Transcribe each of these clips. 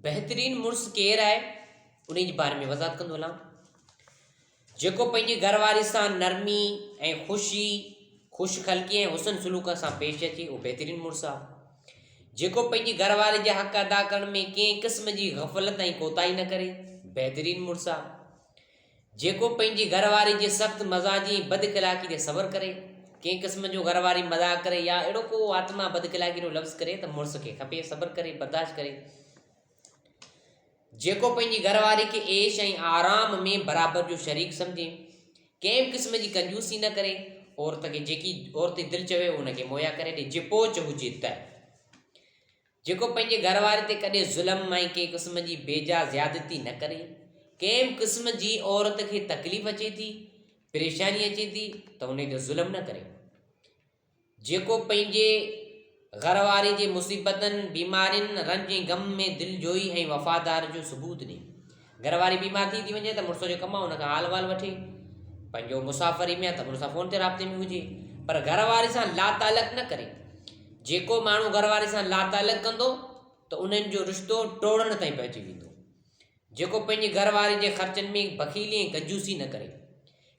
بهترين مڙس ڪير آهي انهي جي باري ۾ وضاحت ڪندو هلان جيڪو پنهنجي گهر واري سان نرمي ۽ خوشي خوش خلقي ۽ حسن سلوڪ سان پيش اچي اهو بهترين مڙس آهي جيڪو پنهنجي گهر واري جا حق ادا ڪرڻ ۾ ڪنهن قسم جي غفلت ۽ ڪوتاهي نه ڪري بهترين مڙس آهي جيڪو پنهنجي گهر واري جي سخت مزاجي ۽ بد اخلاقي تي صبر ڪري، ڪنهن قسم جو گهر واري مذاق ڪري يا اهڙو ڪو آتما بد اخلاقي جو لفظ ڪري ته مڙس کي کپي صبر ڪري برداشت ڪري. جيڪو پنهنجي گهر واري کي عيش ۽ آرام ۾ برابر جو شريڪ سمجهي، ڪنهن به قسم جي ڪنجوسي نه ڪري، عورت کي جيڪي عورت جي دل چوي ان کي مهيا ڪري ڏي جي پوچ هجي ته. جيڪو پنهنجي گهر واري تي ڪڏهن ظلم ۽ ڪنهن قسم جي بيجا زيادتي نه ڪري، ڪنهن به قسم جي عورت کي تڪليف اچي ٿي، پريشاني اچي ٿي ته انهي تي ظلم نه ڪري. جيڪو پنهنجي گهر واري جي مصيبتن، بيمارين، رنج ۽ غم ۾ دلجوئي ۽ وفادار جو ثبوت ڏي. گهر واري بيمار ٿي ٿي وڃي ته مڙس جو ڪم آهي ان کان حال احوال وٺي پنهنجو مسافري ۾ ته مڙس فون تي رابطي ۾ هجي پر گهر واري سان لا تعلق نه ڪري جيڪو ماڻهو گهر واري سان لا تعلق ڪندو ته انهن جو رشتو ٽوڙڻ تائين پهچي ويندو جيڪو پنهنجي گهر واري جي خرچن ۾ بخيلي ۽ ڪجوسي نه ڪري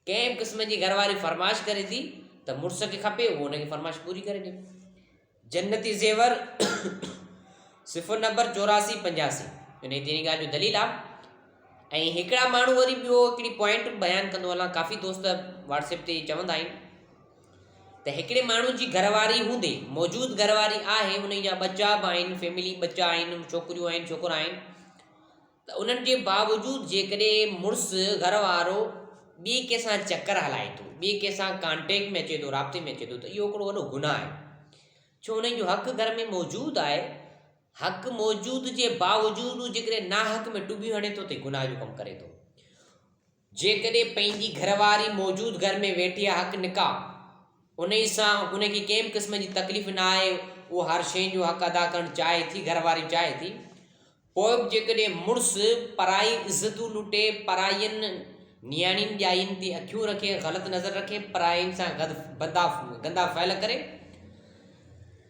ڪنهن قسم جي گهر واري فرمائش ڪري ٿي ته مڙس کي کپي اهو ان کي فرمائش پوري ڪري ڏي جنتي زيور صفحو نمبر چوراسي پنجاسي ان جي تيرين ڳالهه جو دليل آ ۽ هڪڙا ماڻهو وري ٻيو هڪڙي پوائنٽ بيان ڪندو هلان ڪافي دوست واٽس اپ تي چوندا آهن ته هڪڙي ماڻهو جي گهر واري هوندي موجود گهر واري آهي ان جا ٻچا به آهن فيملي ٻچا آهن ڇوڪريون آهن ڇوڪرا آهن ته ان جي باوجود جيڪڏهن مڙس، گهر وارو، ٻي ڪنهن سان چڪر هلائي ٿو، ٻي ڪنهن سان ڪانٽيڪٽ ۾ اچي ٿو، رابطي ۾ اچي ٿو ته اهو هڪڙو وڏو گناهه آهي. ڇو انهن جو حق گهر ۾ موجود آهي، حق موجود جي باوجود هو جيڪڏهن ناحق ۾ ٽٻيون هڻي ٿو ته هي گناهه جو ڪم ڪري ٿو. جيڪڏهن پنهنجي گهر واري موجود گهر ۾ ويٺي آهي حق نڪاح انهي سان ان کي ڪنهن به قسم جي تڪليف نه آهي اها هر شئي جو حق ادا ڪرڻ چاهي ٿي گهر واري چاهي ٿي پوء به جيڪڏهن مڙس پرائي عزتون لٽي پرائين نياڻين ڄائين تي اکيون رکي غلط نظر رکي پرائين سان گندا گندا فعل ڪري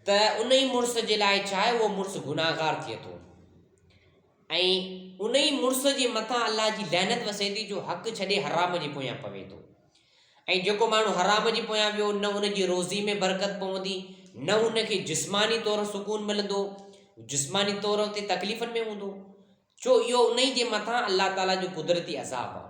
ته انهي مڙس جي لاء ڇا آهي اهو مڙس گناهگار ٿئي ٿو ۽ انهي مڙس جي مٿان الله جي لعنت وسي ٿي جو حق ڇڏي حرام جي پويان پوي ٿو ۽ جيڪو ماڻهو حرام جي پويان ويو نه ان جي روزي ۾ برڪت پوندي نه ان کي جسماني طور سڪون ملندو جسماني طور تي تڪليفن ۾ هوندو ڇو اهو انهي جي مٿان الله تعالي جو قدرتي عذاب آهي.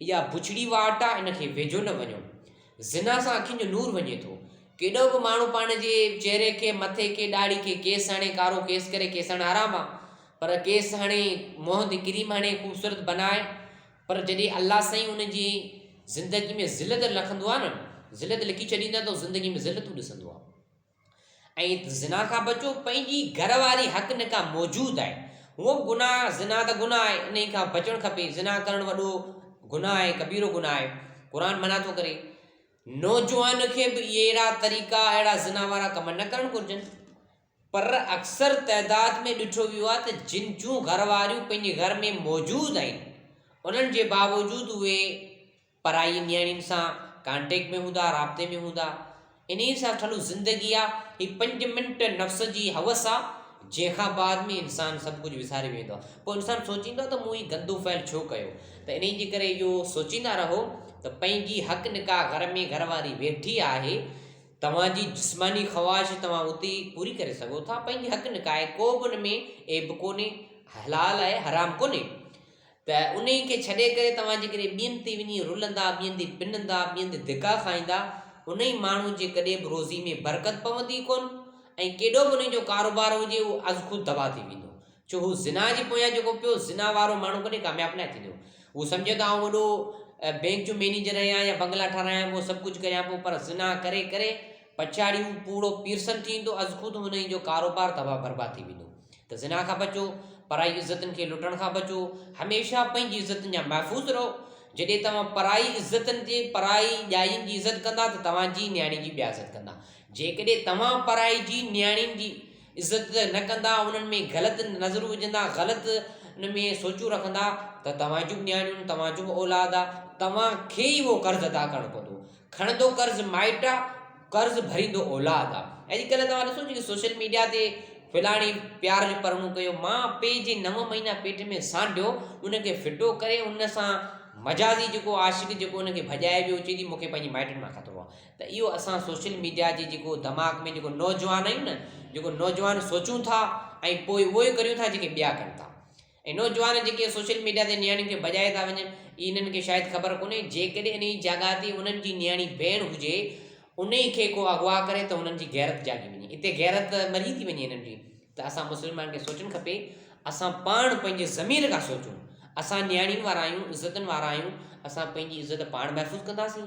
اها بڇڙي واٽ آ ان کي ويجهو نه وڃو. زنا سان اکين جو نور وڃي ٿو. ڪيڏو به ماڻهو پاڻ جي چهري کي، مٿي کي، ڏاڙهي کي ڪيس هڻي، ڪارو ڪيس ڪري، ڪيس هڻڻ حرام آ. پر ڪيس هڻي، منهن تي ڪريم هڻي، خوبصورت بنائي پر جڏهن الله سائين ان جي زندگي ۾ ذلت لکندو آ نه، ذلت لکي ڇڏيندا ته هو زندگي ۾ ذلتون ڏسندو آ. ۽ زنا کان بچو پنهنجي گهر واري حق نڪاح موجود آهي هونئن به گناهه زنا ته گناهه آهي انهي کان بچڻ کپي زنا ڪرڻ وڏو گناهه آهي ڪبيرو گناهه آهي قرآن منع ٿو ڪري نوجوان کي به اهڙا طريقا اهڙا زنا وارا ڪم نه ڪرڻ گهرجن پر اڪثر تعداد ۾ ڏٺو ويو آهي ته جن جون گهر واريون پنهنجي گهر ۾ موجود آهن انهن جي باوجود اهي پرائي نياڻين سان ڪانٽيڪٽ ۾ هوندا، رابطي ۾ هوندا، انهيء سان ٺھيل زندگي آ، هي پنج منٽ نفس جي حوس آ، جنهن کان بعد ۾ انسان سڀ ڪجهه وساري ويندو آ، پوء انسان سوچيندو آ ته مون هي گندو فعل ڇو ڪيو، ته انهيء جي ڪري اهو سوچيندا رهو ته پنهنجي حق نڪاح گهر ۾ گهر واري ويٺي آهي، توهان جي جسماني خواهش توهان اتي ئي پوري ڪري سگهو ٿا، پنهنجي حق نڪاح آهي، ڪو به ان ۾ عيب ڪونهي، حلال آهي، حرام ڪونهي. ته انهيء کي ڇڏي ڪري توهان جيڪڏهن ٻين تي وڃي رلندا، ٻين تي پنندا، ٻين تي ڌڪا کائيندا، انهيء ماڻهوء جي ڪڏهن به روزيء ۾ برڪت پوندي ئي ڪونه ۽ ڪيڏو به انهيء جو ڪاروبار هجي، اهو ازخود تباهه ٿي ويندو. ڇو هو زنا جي پويان جيڪو پيو، زنا وارو ماڻهو ڪڏهن ڪامياب ناهي ٿيندو. هو سمجهي ته آئون وڏو بئنڪ جو مئنيجر آهيان يا بنگلا ٺاراهيان پيو، سڀ ڪجهه ڪريان پيو، پر زنا ڪري ڪري پڇاڙي هو پوڙهو پيرسن ٿي ويندو، ازخود انهيء جو ڪاروبار تباهه برباد ٿي ويندو. ته زنا کان بچو، پرائي عزتن کي لٽڻ کان بچو، هميشه پنهنجي عزتن جا محفوظ رهو، جڏهن توهان پرائي عزتن جي، پرائي ڄائين جي عزت ڪندا ته توهان جي نياڻين جي ٻيا عزت ڪندا، جيڪڏهن توهان پرائي جي نياڻين جي عزت نه ڪندا، انهن ۾ غلط نظرون وجهندا، غلط ان ۾ سوچون رکندا ته توهان جون به نياڻيون آهن، توهان جو به اولاد آهي، توهان کي ئي اهو قرض ادا ڪرڻو پوندو، کڻندو قرض مائٽ آ، قرض ڀريندو اولاد آ. اڄڪلهه توهان ڏسو جيڪي سوشل ميڊيا تي فلاڻي پيار جو پرڻو ڪيو، ماء پي جي نو مهينا پيٽ ۾ سانڍيو ان کي ڦٽو ڪري ان سان مجازي جيڪو عاشق جيڪو ان کي ڀڄائي ويو چئي ٿي مون کي پنهنجي مائٽن مان خطرو آ ته اهو اسان سوشل ميڊيا جي جيڪو دماغ ۾ جيڪو نوجوان آهيون نه جيڪو نوجوان سوچون ٿا ۽ پوء اهو ئي ڪريون ٿا جيڪي ٻيا ڪن ٿا اهي نوجوان جيڪي سوشل ميڊيا تي نياڻين کي ڀڄائي ٿا وڃن، اهي انهن کي شايد خبر ڪونهي، جيڪڏهن انهيء جاڳاء تي انهن جي نياڻي ڀيڻ هجي، انهيء کي ڪو اغوا ڪري ته هنن جي غيرت جاڳي وڃي. اتي غيرت مري ٿي وڃي انهن جي. ته اسان مسلمانن کي سوچڻ کپي، اسان پاڻ پنهنجي ضمير کان سوچون. اسان نياڻين وارا آهيون، عزتن وارا آهيون، اسان پنهنجي عزت پاڻ محفوظ ڪنداسين،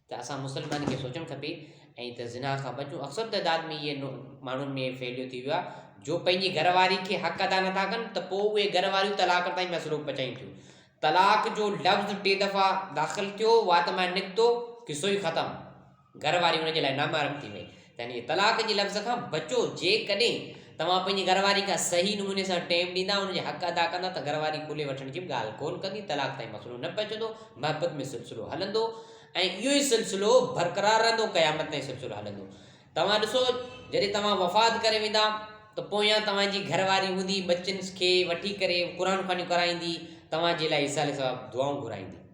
ته اسان مسلمانن کي سوچڻ کپي ۽ ته زنا کان بچون اڪثر تعداد ۾ اهي ماڻهن ۾ ڦهليو ٿي ويو آهي جو پنهنجي گهر واري کي حق ادا نٿا ڪن ته پوء اهي گهر واريون طلاق تائين مسئلو پچائين ٿيون طلاق جو لفظ ٽي دفعا داخل ٿيو وات مان نڪتو قصو ئي ختم گهر واري ان جي لاء نامحرم ٿي وئي يعني طلاق جي لفظ کان بچو، جيڪڏهن توهان پنهنجي گهر واري کان صحيح نموني سان ٽيم ڏيندا، ان جا حق ادا ڪندا ته گهر واري کلي وٺڻ جي به ڳالهه ڪونه ڪندي، طلاق تائين مسئلو نه پهچندو، محبت ۾ سلسلو هلندو ۽ اهو ئي سلسلو برقرار رهندو، قيامت تائين سلسلو هلندو. توهان ڏسو جڏهن توهان وفات ڪري ويندا ته پويان توهان جي گهر واري هوندي، ٻچن کي وٺي ڪري قرآن خوانيون ڪرائيندي، توهان جي لاء ايصال ثواب دعائون گهرائيندي.